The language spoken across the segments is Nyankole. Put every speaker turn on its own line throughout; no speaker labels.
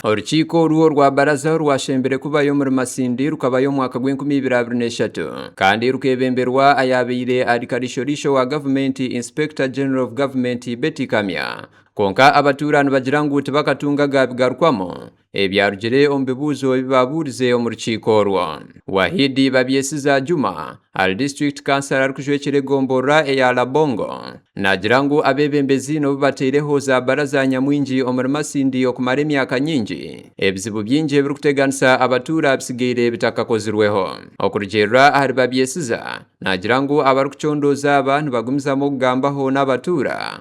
Orukiiko orwo rwa baraza rwashembire kubayo omuri Masindi rukabayo omu mwaka gw'enkumi ibiri abiri n'eshatu kandi rukebemberwa ayaabaire ari kariisho-riisho wa gavumenti Inspector General of Government Betty Kamya kwonka abatuura nibagira ngu tibakatunga gaabigarukwamu ebyarugire omu bibuuzo ebi baabuurize omu rukiiko orwo. Wahidi Babyesiza Juma, Al District Councillor arikujwekyera egomboroa eya Labongo, naagira ngu abeebembezi nobu bateireho za baraza nyamwingi omuri Masindi okumara emyaka nyingi, ebizibu bingi ebirikuteganisa abatuura bitsigaire bitakakozirweho. Okurugiirira ahari Babyesiza, naagira ngu abarikucondooza aba nibagumizamu okugambaho n'abatuura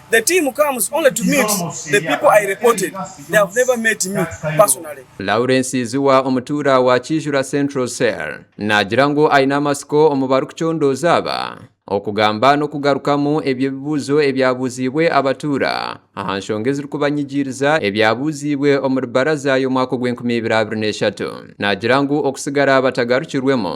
The team comes only to meet the people I reported, they have never met me personally. Lawrence Iziwa
omutuura wa Kiijura Central Cell naagira ngu aine amatsiko omu barikucondooza aba, okugamba n'okugarukamu ebyo ebibuuzo ebyabuuziibwe abatuura aha nshonga ezirikubanyigiiriza ebyabuuziibwe omuri baraza y'omwaka ogw'enkumi ibiri abiri n'eshatu. Naagira ngu okusigara batagarukirwemu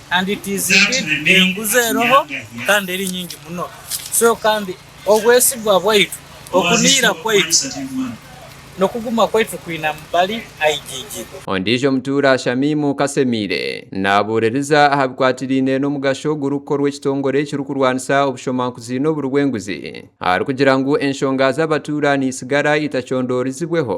Kandi tiziri enguzi eriho kandi eri nyingi muno. So kandi obwesigwa bwaitu, okuniira kwaitu, n'okuguma kwaitu kwinamu bali aigigi. Ondiijo mutuura
Shamimu Kasemiire naabuuririza aha bikwatiraine n'omugasho ogurikukorwa ekitongore ekirikurwanisa obushomankuzi n'oburi bw'enguzi, arikugira ngu enshonga z'abatuura niitsigara itacondoorizibweho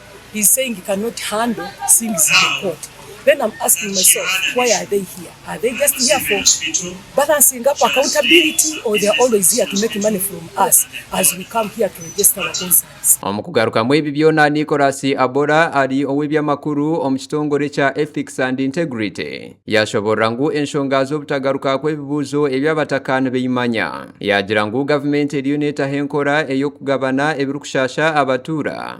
he's saying he cannot handle seeing she's in court then am asking myself why are they here are they just here for balancing up accountability or they are always here to make money from us as we come here to register our concerns. Omu kugarukamu ebi
byona Nicholas Abora ari ow'eby'amakuru omu kitongore kya Ethics and Integrity yaashoboorora ngu enshonga z'obutagaruka kw'ebibuuzo ebi abataka nibaimanya yaagira ngu gavumenti eriyo neetaho enkora ey'okugabana ebirikushaasha abatuura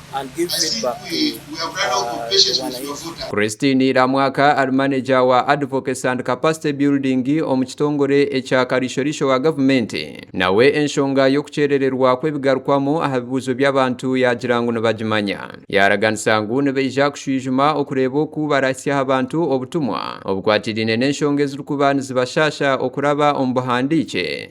and give feedback
to the wananchi. Christine Iramwaka ari maneja wa Advocacy and Capacity Building omu kitongore ekya Kariisho-riisho wa gavumenti, nawe enshonga y'okukyerererwa kw'ebigarukwamu aha bibuuzo by'abantu yaagira ngu nibagimanya. Yaaraganisa ngu nibaija kushwijuma okureeba oku baraahitsya aha bantu obutumwa obukwatiraine n'enshonga ezirikuba nizibashaasha okuraba omu buhandiikye.